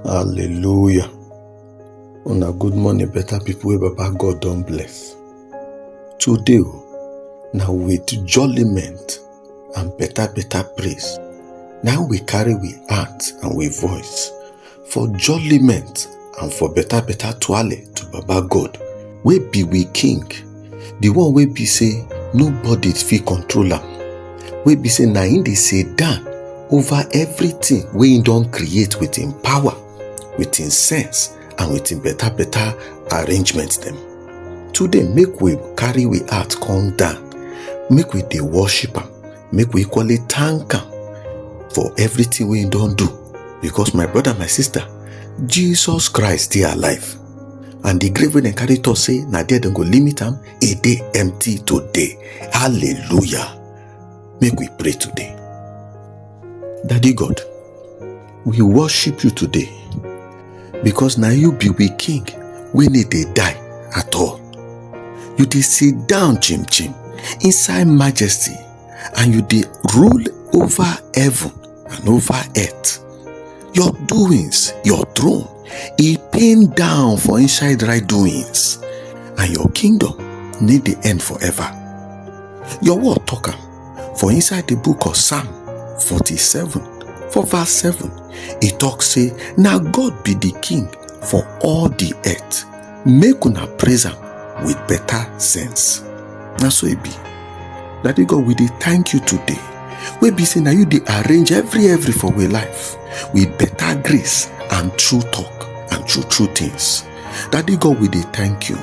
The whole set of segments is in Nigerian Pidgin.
Hallelujah. Una good morning, better people wey Baba God don bless. Today, o, na with jollyment and better better praise. Now we carry we heart and we voice for jollyment and for better better twale to Baba God, wey be we King the one wey be say nobody fit control am wey be say na him dey sit down over everything wey him don create with him power with him sense and with him better better arrangement dem today make we carry we heart come down make we dey worship am make we equally thank am for everything wey he don do because my brother my sister jesus christ dey alive and the grave wey dem carry talk say na there dem go limit am e dey empty today hallelujah make we pray today daddy god we worship you today because na you be we king wey no dey die at all you dey sit down chim chim inside majesty and you dey rule over heaven and over earth your doings your throne e pain down for inside right doings and your kingdom need dey end forever your word talk am for inside the book of psalm 47 for verse 7 e talk say na god be the king for all the earth make una praise am with better sense na so e be daddy god we dey thank you today wey be say na you dey arrange every every for we life with better grace and true talk and true true things daddy god we dey thank you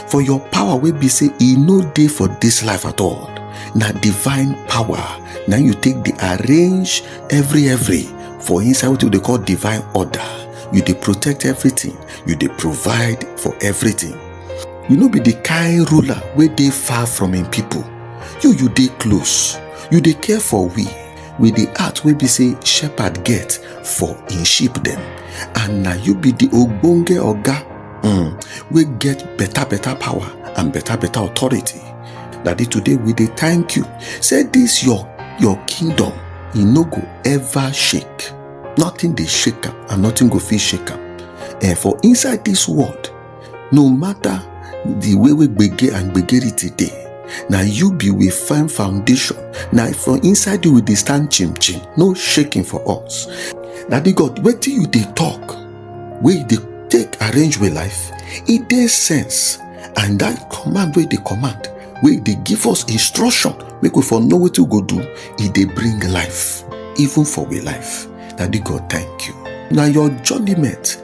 for your power wey be say e no dey for dis life at all na divine power na you take dey arrange every every for inside wetin we dey call divine order you dey protect everything you dey provide for everything you no be the kind ruler wey dey far from im people you you dey close you dey care for we with the heart wey be say shepherd get for im sheep dem and na you be the ogbonge oga um, wey get better better power and better better authority daddy today we dey thank you say this your your kingdom e no go ever shake nothing dey shake am and nothing go fit shake am and for inside this world no matter the way wey gbege and gbegerity dey na you be we firm foundation na for inside you we dey stand chim chim no shaking for us daddy god wetin you dey talk wey you dey take arrange with life e dey sense and that command wey you dey command wey you dey give us instruction make we for know wetin we go do e dey bring life even for we life daddy god thank you na your judgment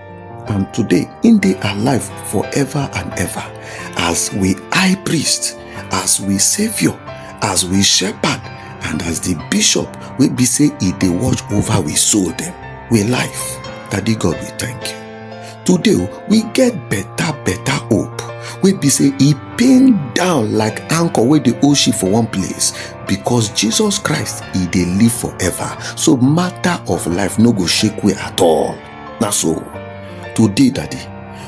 And today, in the alive forever and ever, as we high priest, as we savior, as we shepherd, and as the bishop, we be say he they watch over we soul them. We life. Daddy God, we thank you. Today, we get better, better hope. We be say he pinned down like anchor where the ocean for one place because Jesus Christ, he they live forever. So matter of life no go shake we at all. na so today daddy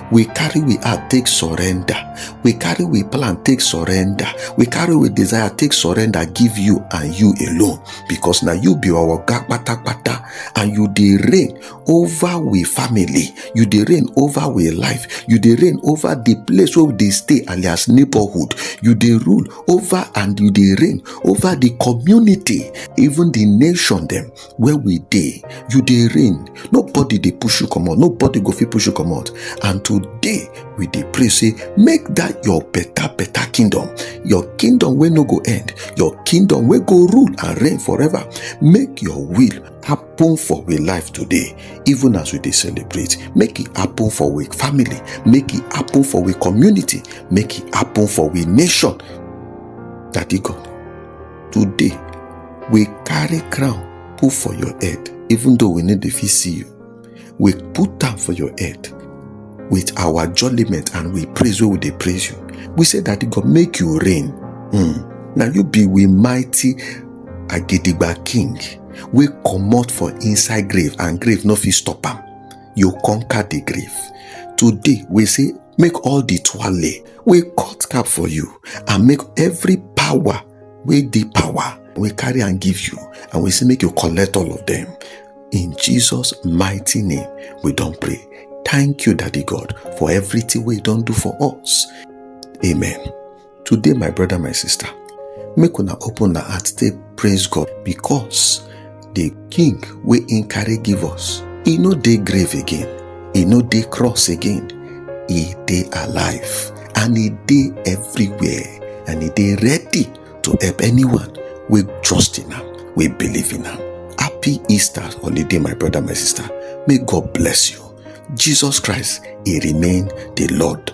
we carry we heart take surrender we carry we plan take surrender we carry we desire take surrender give you and you alone because na you be our oga patapata and you dey reign over we family you dey reign over we life you dey reign over the place wey we dey stay alias neighborhood you dey rule over and you dey reign over the community even the nation dem where we dey you dey reign nobody dey push you comot nobody go fit push you comot and today we dey pray say make that your better better kingdom your kingdom wey no go end your kingdom wey go rule and reign forever make your will happen for we life today even as we dey celebrate make e happen for we family make e happen for we community make e happen for we nation daddy god today we carry crown put for your head even though we need to fit see you we put am for your head with our jollyment and we praise wey we dey praise you we say that e go make you reign mm. na you be we mighty agidigba king wey comot for inside grave and grave no fit stop am you conquer the grave today we say make all the twale wey cut cap for you and make every power wey dey power wey carry am give you and we say make you collect all of them in jesus mighty name we don pray thank you daddy god for everything wey you don do for us amen today my brother my sister make una open na heart take praise god because the king wey im carry give us e no dey grave again e no dey cross again e dey alive and e dey everywhere and e dey ready to help anyone wey trust in am wey believe in am happy easter holiday my brother my sister may god bless you jesus christ e remain the lord